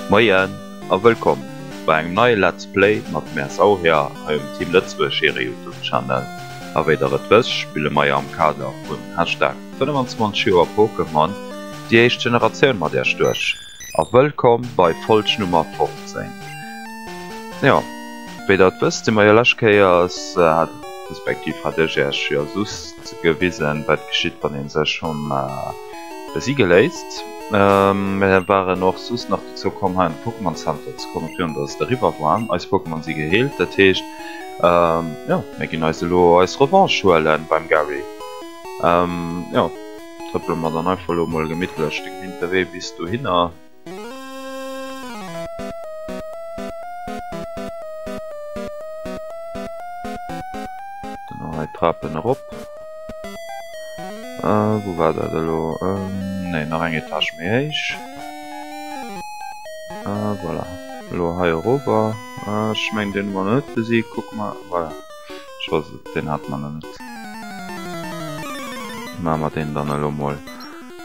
Moien a wëllkomm bei engem neie Let's Play mat MRSAu hir hei um Team Lëtzebuerg hire Youtube Channel. A wéi der et wësst spille mei am Kader vun Hashtag 25 Joer Pokémon déi éischt Generatioun mat Iech duerch. a wëllkomm bei Folg Nummer 15. Jo, wéi der et wësst, si mer jo lescht Kéiers, respektiv hat ech iech jo just gewisen, wat geschitt, wann ee sech hom besige léisst. Mer waren och soss nach dozou komm, hei an de Pokémon Center ze kommen, virun dass et eriwwer war. Eis Pokémon si geheelt, dat heescht, jo, mir ginn eis elo eis Revanche huelen beim Gary. Jo. Trëppele mer dann einfach elo emol gemittlech de gewinnte Wee bis dohinner. Trapen erop. Äh, wo war dat elo? Ähm, nee, nach eng Etage méi héich. Äh, voilà. Elo hei erober. Äh, ech meng den war net besiegt, kuck mal. Voilà. Ech weess et, deen hat mer lo net. Maache mer deen dann elo mol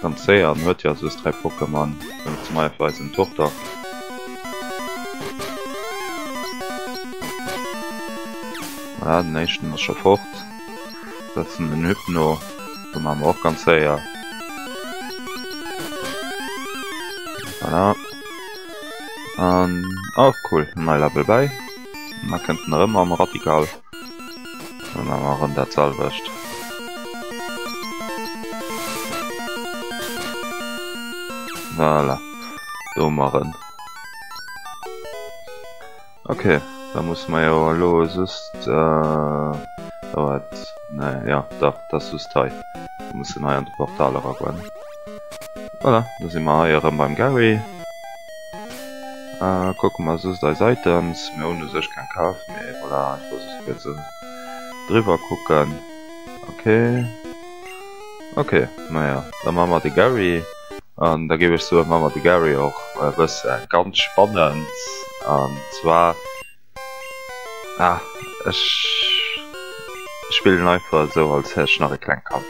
ganz séier. En huet jo soss 3 Pokémon, wéinst dem Eie fir eisen Turtok. Voilà, den éischten ass scho fort. Setzen den Hypno. Dee maache mer och ganz séier. Voilà. An, oh cool, en neie Level bäi. Mer kënnten erëm am Radical. Dann maache mer erëm dat selwecht. Voilà. Do hu mer en. Ok, da musse mer jo elo just. Oh et. Nee, jo dach, dat ass just hei. Mer mussen hei an de Portal eragoen. Voilà, da si mer hei erëm beim Garry. Äh, kucke mer soss eis Items. Mir hunn u sech keng kaf, mee voilà, ech wollt soss kuerz erëm driwwer kucken. Ok. Ok, na ja, da maache mer de Garry. An da géif ech soen, maache mer de Garry och e bësse ganz spannend. An zwar. Ah, ech spillen einfach esou als hätt ech nach e klengt Kand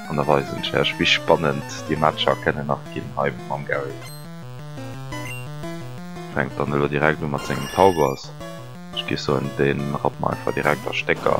an da weisen ech iech wéi spannend déi Matcher kennen nach ginn hei mam Garry. Fänkt dann elo direkt u mat sengen Taubers, ech gi soen deen rappt mer einfach direkt a Stécker.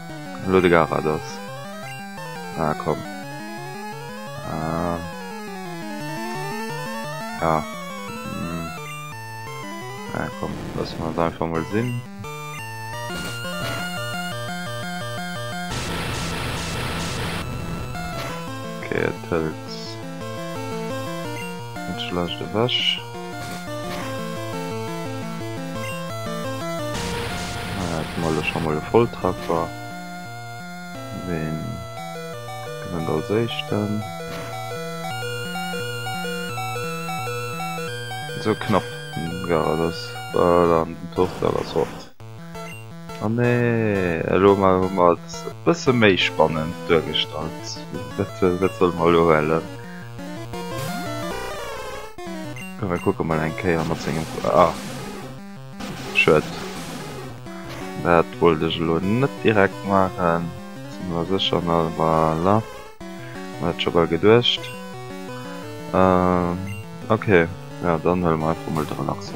Lo de Garados. Ah komm. Ah. Ja. Mm. Ah komm, lass mal da einfach mal sinn. Okay, et hëlt. Net ze lescht ewech. Haten mer lech emol e Volltreffer. Ween gewënnt als éischten? Sou knapp war et. Ass dann den Tour de la Sorte. Oh nee, elo hu mer et e bësse méi spannend duergestallt. Dat solle mer elo huelen. Komm mir kucke mol eng Kéier mat sengem... Ah. Schued. Dat wollt ech elo net direkt maachen. Sinn elo sécher na... Voilà. Hunn dat scho bal geduecht. Ok, jo dann huele mer einfach mol de Relaxer.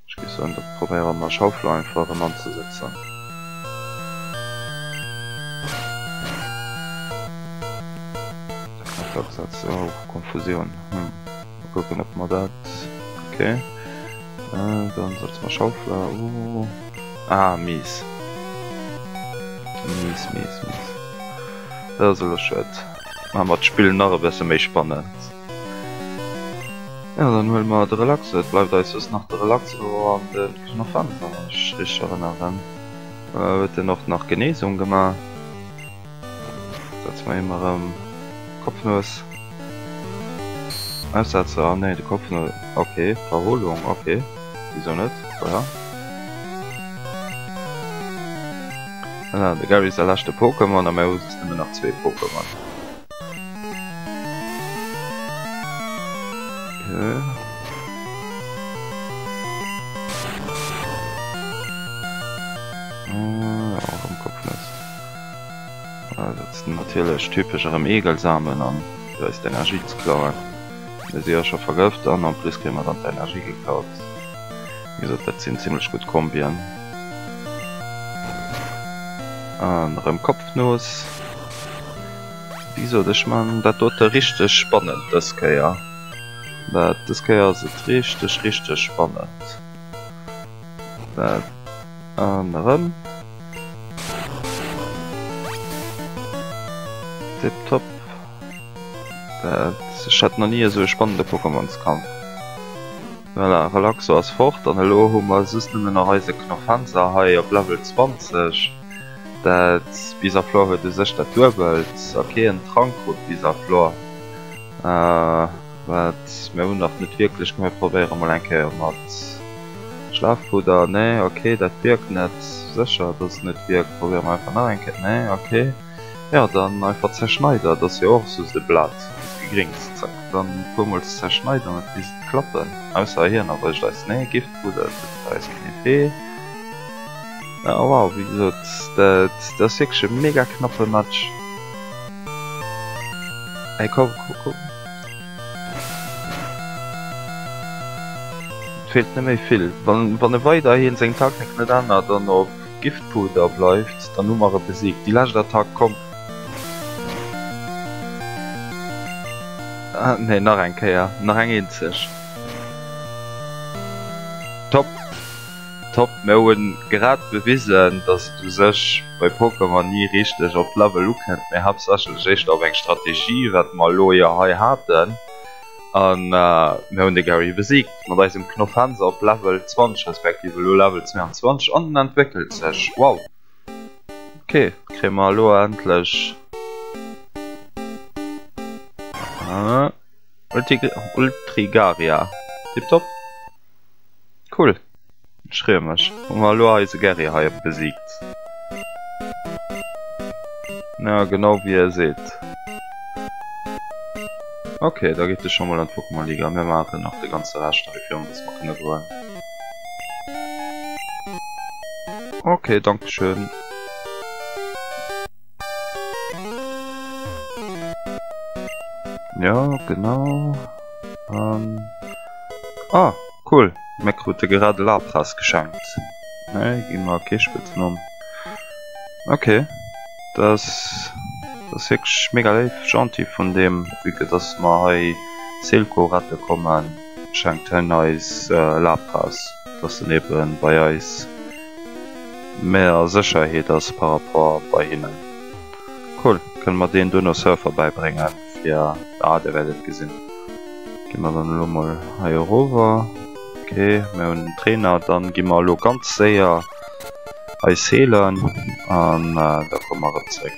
Ech gi soen, datt probéieren mer Schaufler einfach erëm anzesëtzen. Oh Konfusioun, hm mol kucken op mer dat, ok dann setze mer Schaufler u, ah mies, mies, mies, mies, dat ass elo schued, maache mer d'Spill nach e besse méi spannend. Jo dann huele mer de relaxe, et bleift eis just nach de relaxe Rohr an de Knopf an, wa mech richteg erënneren huet en och nach Genesung gemaach. Setze mer him erëm Kopfnues, Aussetzer, ah nee de Kopfnues, ok Verholung, ok wisou net, voilà. Voilà de Garry säi leschte Pokémon a mir hu just nëmmen nach zwee Pokémon. Natierlech typesch erëm Eegelsamen an fir eis d'Energie ze klauen. Mir si jo scho vergëft an en plus kréie mer dann d'Energie geklaut. Wéi gesot, dat sinn zimmlech gutt Kombien. An erëm Kopfnuss. Wéi sot ech, man dat dote richteg spannend dës Kéier. Dat dës Kéier ass et richteg richteg spannend. Dat an erëm. Tip top. Dat ech hat nach ni esou e spannende Pokémonskampf. Voilà, Relaxo ass fort an elo hu mer just nëmmen nach eise Knofenser hei op Level 20, dat Bisaflor huet u sech dat duebelt a keen Trank krut. Bisaflor, wat mir hunn nach net wierklech gemeet. Probéiere mol eng Kéier mat Schlafpudder, nee ok, dat wierkt net. Sécher, dass et net wierkt? Probéiere mer einfach nach eng Kéier, nee ok. Jo dann einfach zerschneiden, et ass jo och soss e Blat gegringst, zack dann e puer mol zerschneiden an et misst klappen, ausser hien erwëscht eis, nee e Giftpudder huet bei eis keen Effet. Ah wow, wéi gesot dat ass wierklech e mega knappe Match. Hei komm komm komm, et feelt net méi vill, wann e weiderhin seng Taktik net ännert an op. Giftpuder bleift, dann hu mer e besiegt. Déi lescht Attack, komm! Nee, nach eng Kéier, nach eng eenzeg. Top! Top! Mir hu grad bewisen, dass et u sech bei Pokémon ni richteg op d'Level ukënnt, mee haaptsächlech éischter op eng Strategie, wat mer elo jo hei haten. an mir hunn de Gary besiegt mat eisem Knof Hanse op Level 20 respektiv elo Level 22 an den entwéckelt sech wow ok kréie mer elo endlech Ultrigaria tiptop. Cool. Ech freeë mech. Hu mer elo eise Gerry hei op besiegt. Jo, genau wéi e seet. Ok, da geet e scho mol an d'Pokémon-Liga. Mir maachen nach de ganze Rescht hei, fir en dass mer kënne goen. Ok, Dankeschön. Ja, genau. Um. Ah, cool. Mir krute gerade Lapras geschenkt. Ne, gehen wir Kirschspitzen um. Okay. Das, das ist wirklich mega live, gentil von dem, wie das mal hier Silco retten kommen. schenkt hien eis Lapras, dass en ebe bei eis méi a Sécherheet ass par rapport bei hinnen. Cool, kënne mer deen duerno Surfer bäibréngen fir, ah dir wäert et gesinn. Gi mer dann elo mol hei erover, ok mir hunn en Trainer, dann gi mer elo ganz séier eis heelen an da komme mer erëm zréck.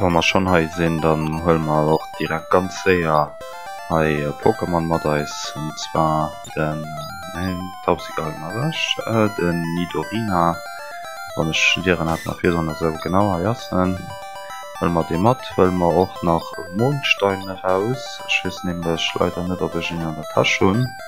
Wann mer schon hei sinn, dann huelen mer och direkt ganz séier hei e Pokémon mat eis, und zwar den, neen, d'Tauxigal hun mer ewech, den Nidorina, wann ech den Dieren hat nach virdoen, esou, genau, hei ass en, huelen mer dee mat, huelen mer och nach e Mondstein eraus, ech weess nämlech leider net, ob ech en an der Täsch hun.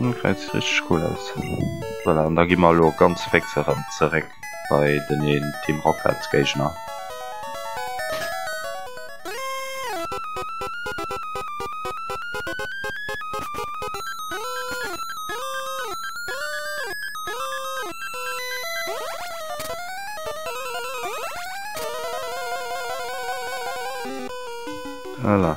Gesäit sech richteg cool aus. Voilà, an da gi mer elo ganz féx erëm zeréck bei den een Team Rockets Géigner. Voilà.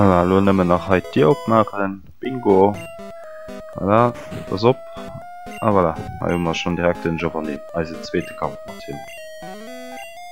Voilà, lo nëmmen nach hei d'Dier opmaachen. Bingo! Voilà, ass op. A voilà, hei hu mer schonn direkt den Giovanni, eise zweete Kampf mat him.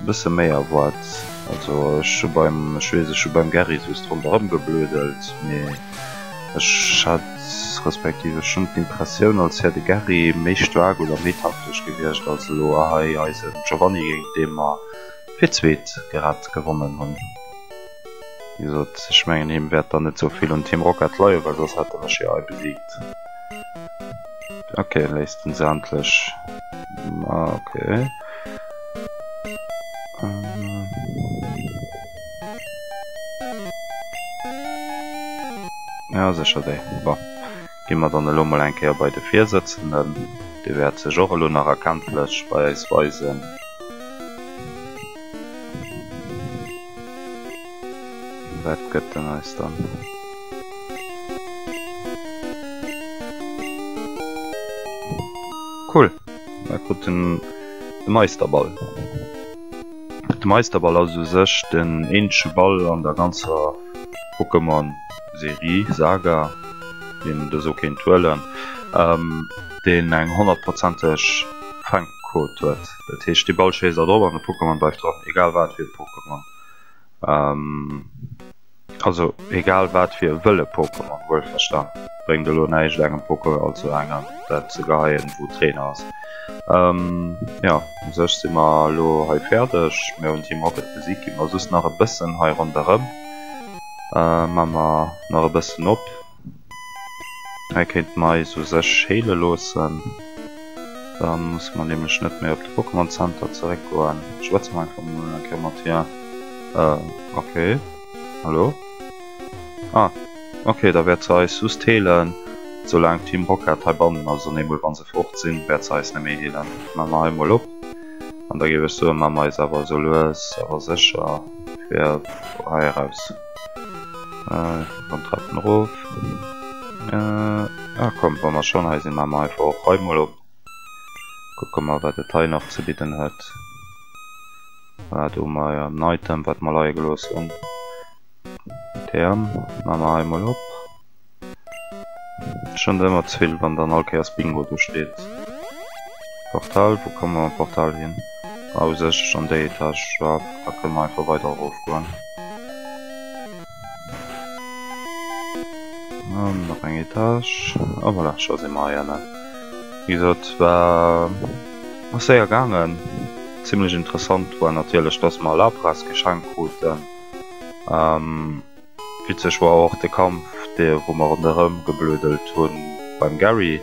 E bësse méi erwaart. Also ech hu beim, ech weess, ech hu beim Gerry soss ronderëm geblödelt, mee ech hat, respektiv ech hunn d'Impressioun, als wär de Gerry méi staark oder méi taktesch gewiescht als elo hei eisen Giovanni, géint dee mer fir d'zweet grad gewonnen hunn. Wéi gesot, ech mengen him wäert dann net sou vill un Team Rocket leien, well soss hätt en mech jo hei besiegt. Ok, léisst en se endlech. Ok. Ja secher déi. Bon. Gi mer dann elo mol eng Kéier bei de Virsëtzenden. Dee wäert sech och elo nach erkenntlech bei eis weisen. Wat gëtt en eis dann? Cool! Mer kruten de Meisterball. De Meisterball ass u sech den eenzege Ball an der ganzer Pokémon-Serie, Saga, deen et esou kéint huelen, deen eng honnertprozenteg Fänkquot huet. Dat heescht dee Ball schéisst dat op an de Pokémon bleift dran, egal wat fir e Pokémon. Also egal wat fir e wëlle Pokémon, wuelverstan. Bréngt elo näischt engem Pokéball zu engem dat ze geheien wou Trainer ass. Jo u sech si mer elo hei fäerdeg, mir hunn Team Rocket besiegt, gi mer just nach e bëssen hei ronderëm, man mer nach e bëssen op. Hei kéint Mais u sech heele loossen. Da musse mer nämlech net méi op de Pokémon Center zeréckgoen. Schwätze mer einfach mol eng Kéier mat hir. Euh, ok. Hallo? Ah, ok, da wäert se eis just heelen, soulaang d'Team Rocket heibannen ass. An eemol, wa se fort sinn, wäert se eis net méi heelen. Maache mer hei mol op. An da géif ech soen, maache mer eis awer esou lues awer sécher fir hei eraus. Äh, ech gi beim Treppen erof. Äh, ah komm, wa mer schonn hei sinn, maache mer einfach och hei mol op. Kucke mer, wat et hei nach ze bidden huet. Wat hu mer hei? En Item, wat mer leie gelooss hunn. Therm maache mer hei mol op. Schon ëmmer ze vill wann dann all Kéiers Bingo do steet. Portal, wou komme mer am Portal hin? Ah u sech an déi Etage erop, da kënne mer einfach weider erof goen. An nach eng Etage. A voilà, scho si mer heiannen. Wéi gesot war ass séier gaangen. Zimlech interessant war natierlech, dass mer Lapras geschenkt kruten. Witzeg war och de Kampf dee wou mer ronderëm gebluedelt hu beim Gary.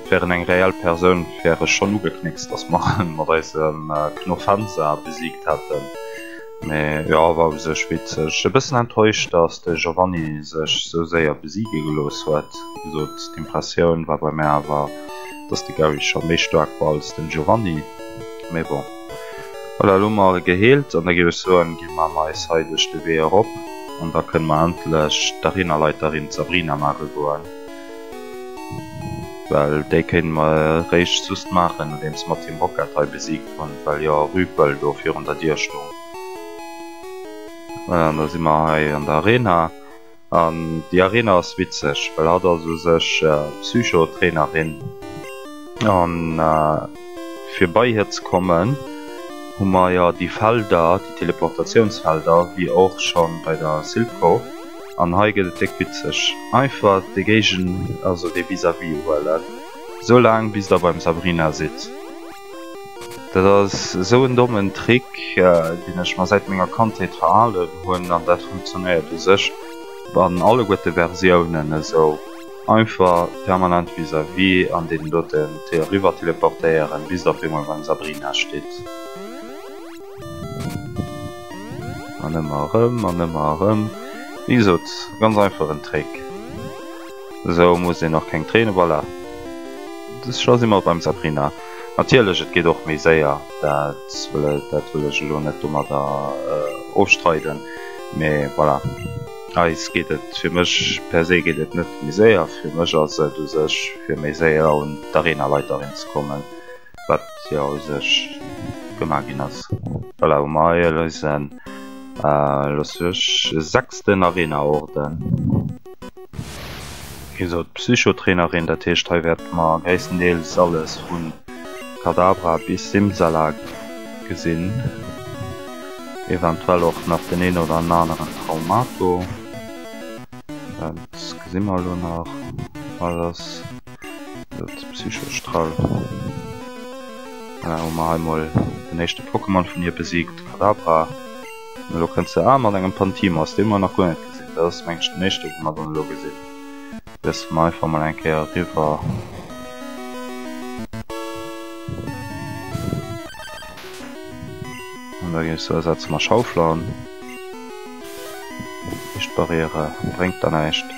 Wär en eng reell Persoun wär ech schonn ugeknéckst datt mer en mat eise Knofenza besiegt hätten. Mee jo war u sech witzeg. E bëssen enttäuscht datt de Giovanni sech esou séier besiege gelooss huet. Wéi gesot d'Impressioun war bei mär awer datt de Gary scho méi staark war als den Giovanni. Mee bon. Voilà, elo hu mer e geheelt an da géif ech soen, gi mer neis hei duerch de Wee erop an da kënne mer endlech d'Arenaleiterin Sabrina maache goen, well déi kéinte mer eréischt just maachen, nodeems mer Team Rocket hei besiegt hunn, well jo Rüpel do virun der Dier stoung. Voilà, an da si mer hei an der Arena. An déi Arena ass witzeg, well hatt ass u sech Psycho-Trainerin. An fir bei hir ze kommen, hu mer jo déi Felder, déi Teleportatiounsfelder, wéi och scho bei der Silco. An hei gëtt et déck witzeg. Einfach de Géigen, also de Vis-à-vis, uhuelen, esou laang bis der beim Sabrina sidd. Dat ass esou en dommen Trick, deen ech mer säit menger Kandheet verhalen hunn, an dat funktionéiert u sech an alleguerte Versiounen esou einfach, permanent vis-à-vis an deenen doten eriwwer teleportéieren, bis et op eemol beim Sabrina steet. An ëmmer erëm an ëmmer erëm, wéi gesot, ganz einfach en Trick. Esou muss een och keng Tréine, voilà. Elo si mer beim Sabrina. Natierlech, et geet och méi séier, dat wëll ech elo net domadder ofstreiden, mee voilà, eis geet et, fir mech per se geet et net méi séier. Fir mech ass et u sech fir méi séier un d'Arena Leiteren ze kommen. wat jo u sech gemaach ginn ass. Voilà, hu mer hei eisen, elo sou ech, sechsten Arena-Orden. Hie sot, Psycho-Trainerin, dat heescht hei wäerte mer gréisstendeels alles vu Kadabra bis Simsalak gesinn, eventuell och nach den een oder aneren Traumato, dat gesi mer elo nach. Psychostrall. Hun mer hei mol den eischten Pokémon vun hier besiegt, Kadabra. An elo kënnt se awer mat engem Pantimos, deen mer nach guer net gesinn. Dat ass mengt ech den eischten deen mer dann elo gesinn. Setzen mer einfach mol eng Kéier eriwwer. Da geet et esou, setzen mer Schaufler an. Lichtbarriere bréngt der näischt.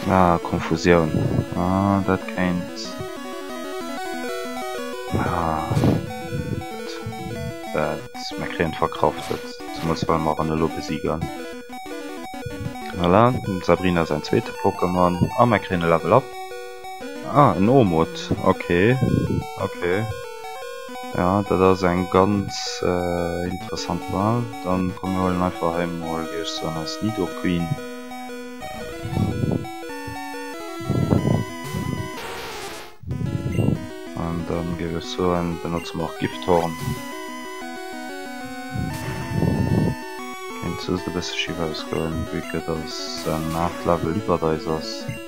Ah, Konfusioun. Ah, dat kéint... Ah. Dat... Mer kréien d'Verkraftet. Zemools well mer en elo besigen. Voilà, dem Sabrina säin zweete Pokémon. A mer kréien e Level Up. Ah, en Omut. Ok, ok. Ja, dat ass eng ganz äh, interessant Wahl. Dann kommen wir holen einfach hei mal, wie ich so als Nido Queen. Und dann gebe ich so ein, benutzen wir auch Gifthorn. Könnt so ein bisschen schief ausgehen, wie das ein 8 Level über da ist.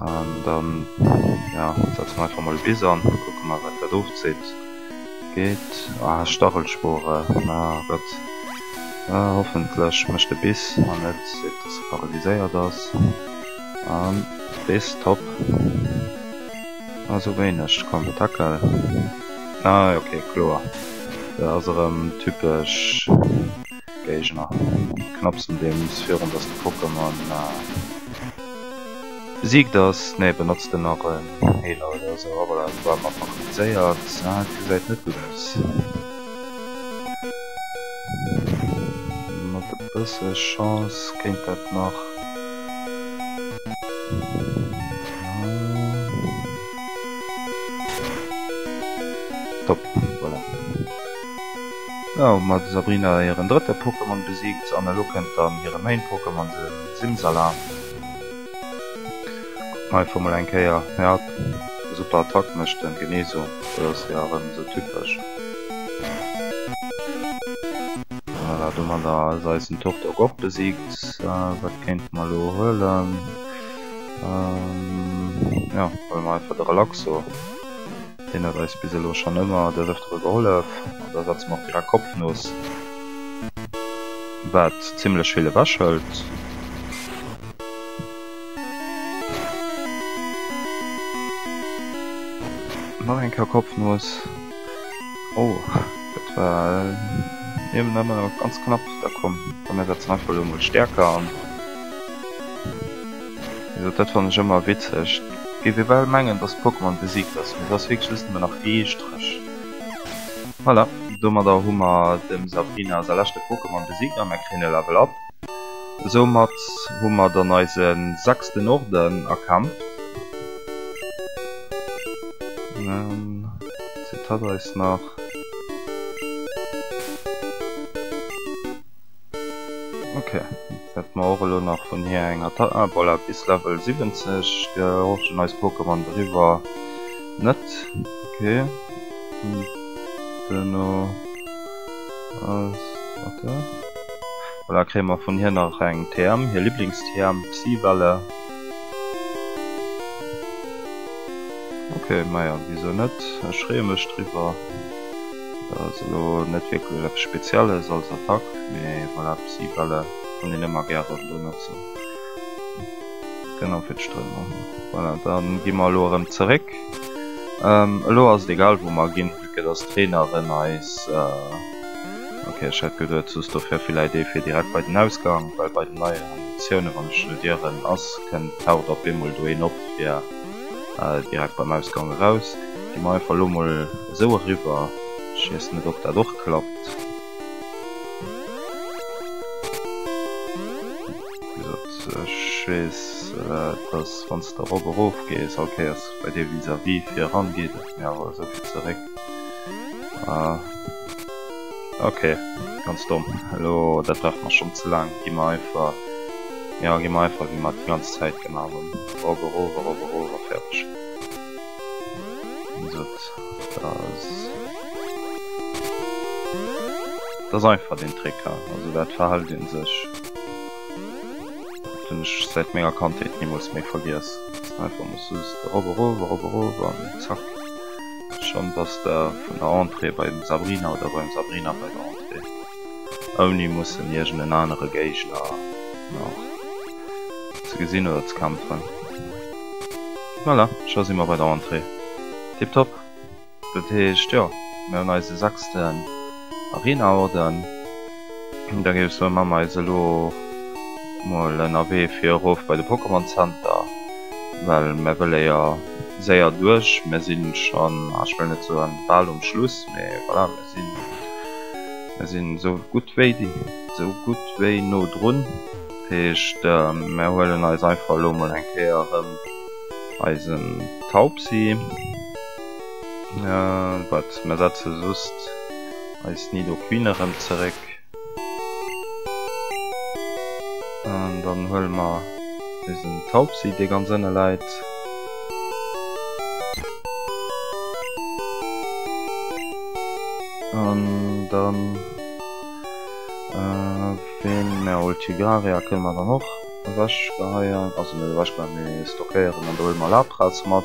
An dann ja setze mer einfach mol e Bis an, kucke mer wat dat ofzitt. Geet? Ah Stachelspore, na gutt. Hoffentlech mécht de Bis an net seet dass e paralyséiert ass. An Bis, top. Ah sou wéineg, komm tackel. Ah ok kloer, da ass erëm typesch. Géigner. Knapsen den S virun dass de Pokémon besiegt ass. Nee, benotz den nach en Healer oder esou. Ah voilà, war mer verkomplizéiert. Ah, et gesäit net gutt aus. Mat e bësse Chance kéint dat nach. Top, voilà. Jo ma de Sabrina hiren drëtte Pokémon besiegt an elo kënnt dann hire Main Pokémon de Simsala. Kuckt mer einfach mol eng Kéier. Jap super Attack mécht en genee sou, dat ass jo erëm sou typesch. Voilà domadder ass eisen Turtok och besiegt. Wat kéinte mer elo huelen? Jo huele mer einfach de Relaxo. Deen huet eis bis elo schonn ëmmer des Ëftere gehollef an da setze mer och direkt Kopfnuss, wat zimmlech vill ewechhëlt. Nach eng Kéier Kopfnuss. Oh, dat war niewent nëmme ganz knapp. Da komm, komm mir setzen einfach elo emol Stäerker an. Also dat fannen ech emmer witzeg. Géif ee well mengen dass Pokémon besiegt ass, mee et ass wierklech just emmer nach ee Strech. Voilà, domadder hu mer dem Sabrina säi leschte Pokémon besiegt a mer kréien e Level up. Soumat hu mer dann eise sechsten Orden erkämpft. Eis et hat eis nach. Ok, dat ma och elo nach vun hir eng Attack. Ah, voilà, bis Level 70 gehorchen eis Pokémon driwwer net. Ok. Duerno ass dat do. Voilà, kréie mer vun hir nach eng TM, hir Liblings-TM, Psy-Welle. Ok, maja, wisou net? Ech freeë mech driwwer. Dat ass elo net wierklech eppes Spezielles als Attack, mee voilà, Psy-Bälle kann een ëmmer gäre benotzen. Genau fir d'Strömung. Voilà, dann gi mer elo erëm zeréck. Elo ass et egal, wou mer ginn, vu que dass d'Traineren eis. Ok, ech hätt geduet, soss do wär villäit ee fir direkt bei den Ausgang, well bei den neien Animatiounen, wann ech elo dieren ass, kënnt, taucht op eemol do een op, fir direkt beim Ausgang eraus. Gi mer einfach elo emol. esou eriwwer. Ech weess net ob dat och klappt. Ech weess dass wann s de erop erof gees all Kéiers bei dir vis-à-vis fir eran geet et mir awer esou fir zeréck. Ok ganz domm elo dat brauch mer schonn ze laang. Gi mer einfach jo gi mer einfach wéi mer et déi ganz Zäit gemaach hunn erop erof erop erof a fäerdeg. Das einfach den Trecker also dat verhalt den sech ich seit ménger Kandheet nie muss méi vergiess einfach muss zack schon dass der vun der Entrée bei dem Sabrina oder beim Sabrina bei der Entrée ouni mussen iergenden anere Géigner. ze gesinn oder ze kämpfen. Voilà, scho si mer bei der Entrée. Tiptop. Dat heescht, jo, mir hunn eise sechsten Arena-Orden. Da géif ech soen, maache mer eis elo mol en Awee fir erof bei de Pokémon Center, well mir wëlle jo séier duerch. Mir si schonn, ah, ech wëll net soen bal um Schluss, mee voilà, mir sinn, mir sinn esou gutt wéi, esou gutt wéi no drun. heescht mär huelen eis einfach elo mol eng Kéier rëm eisen Taubsi, wat mär setze just eis Nidoqueen erëm zeréck an dann huele mer eisen Taubsi dee ganz ënne läit. An dann. Deen Meroultigarea kënne mer dann och ewechgeheien, also net ewechgeheien, mee stockéieren an do huele mer Lapras mat.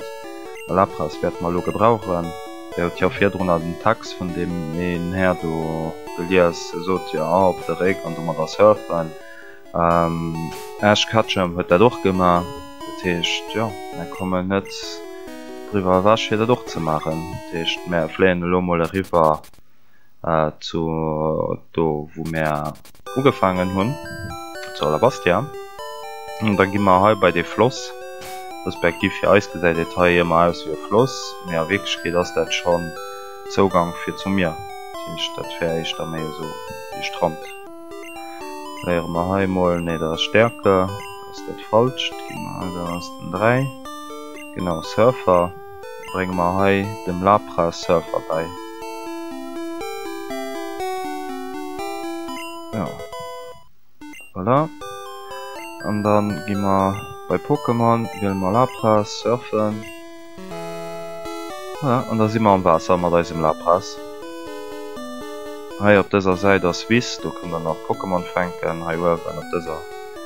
Lapras wäerte mer elo gebrauchen. Dir hutt jo virdrun an den Text vun deem een Här do gelies, e sot jo A op de Réck an domadder surfen. Ash Ketchum huet dat och gemaach, dat heescht, jo, mer kommen net driwwer ewech fir dat och ze maachen. Dat heescht, mer fléien elo mol eriwwer. zu do wou mär ugefaangen hunn, zu Alabastia. An da gi mer hei bei dee Floss, respektiv fir eis gesäit et hei ëmmer aus wéi e Floss, mee a Wierklechkeet ass dat schonn Zougank fir zum Mier. Dat heescht, dat wär éischter méi esou ee Strand. Léiere mer hei emol, nee, dat ass Stärke, dat ass dat Falscht. Gi mer hei, do ass den 3, genau, Surfer. Brénge mer hei dem Lapra Surfer bäi. Jo. Voilà. An dann gi mer bei Pokémon, wiele mer Lapra Surfen. Voilà. An da si mer am Waasser mat eisem Lapras. Hei op dëser Säit ass Wiss, do kënnt der nach Pokémon fänken, hei uewen op dëser.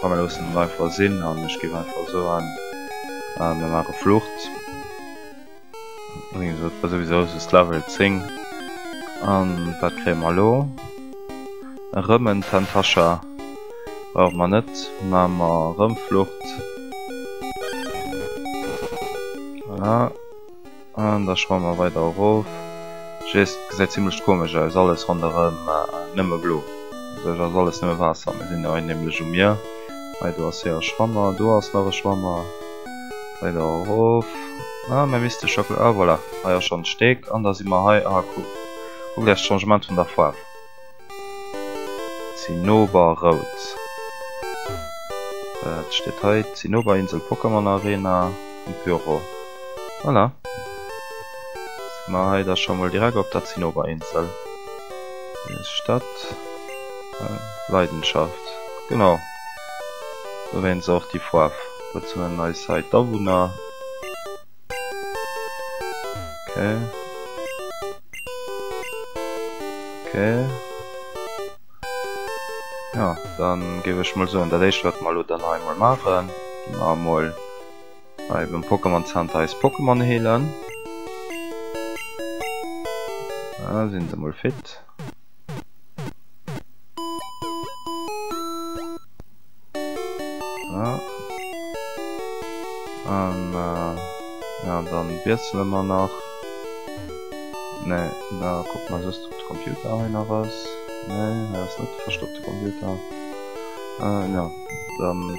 Komm mir loossen et einfach sinn an ech géif einfach soen, mir maache Flucht. Wéi gesot, war souwisou just Level 10. A wat kréie mer elo? Erëm en Tentascha. Brauche mer net. Maache mer erëm Flucht. Voilà. An da schwammen mer weider erof. Ech weess, et gesäit zimmlech komesch aus, alles ronderëm nëmme blo. Dobäi ass alles nëmme Waasser. Mir sinn hei nämlech um Mier. Hei do ass hir e Schwammer, do ass nach e Schwammer. Weider erof. Ah, mä misste scho, ah voilà, hei ass schonn d'Stéck. An da si mer hei, ah cool, kuckt Iech d'Changement vun der Faarf. Zinnober rout. Wat steet hei? Zinnoberinsel Pokémon Arena um Pyro. Voilà. Si mer hei da scho mol direkt op der Zinnoberinsel. Eis Stadt. Leidenschaft. Genau. Dowéinst och déi Foarf. Wat hunn eis hei d'Awunner? Okay. Okay. Ja, dann gebe ich mal so an der Liste wird mal oder noch einmal machen. Mal mal bei dem Pokémon Center ist Pokémon hehlen. Ja, sind sie mal fit. Wiessele mer nach ne da ku man just op de Computer hei nach ass ne ass net verstoppte Computer ja dann.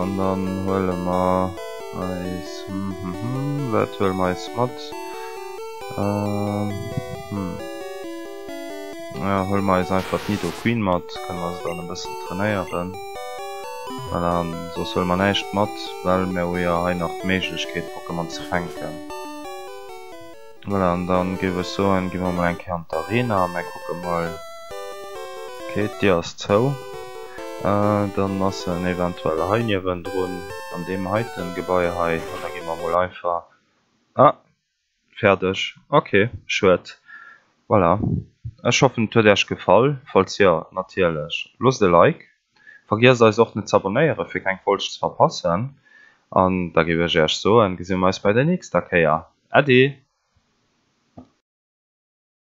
An dann huele mer eis, hm hm hm, wat huele mer eis mat? Hm, jo, huele mer eis einfach d'Nido Queen mat, kënne mer se dann e bëssen trainéieren. Voilà, an soss huele mer näischt mat, well mer hu jo hei nach d'Méiglechkeet Pokémon ze fänken. Voilà, an dann géif ech soen, gi mer mol eng Kéier an d'Arena, mä kucke mol. Okay, d'Dier ass zou. Dann ass en eventuell hei niewendrun an deem heiten Gebai hei. An da gi mer mol einfach. Ah, fäerdeg. Okay, schued. Voilà, ech hoffen et huet Äech gefall. Falls jo, natierlech loosst e Like Vergiesst eis och net z'abonnéieren fir keng Folg ze verpassen an da géif ech iech soen, gesi mir eis bei der nächster Kéier. Äddi!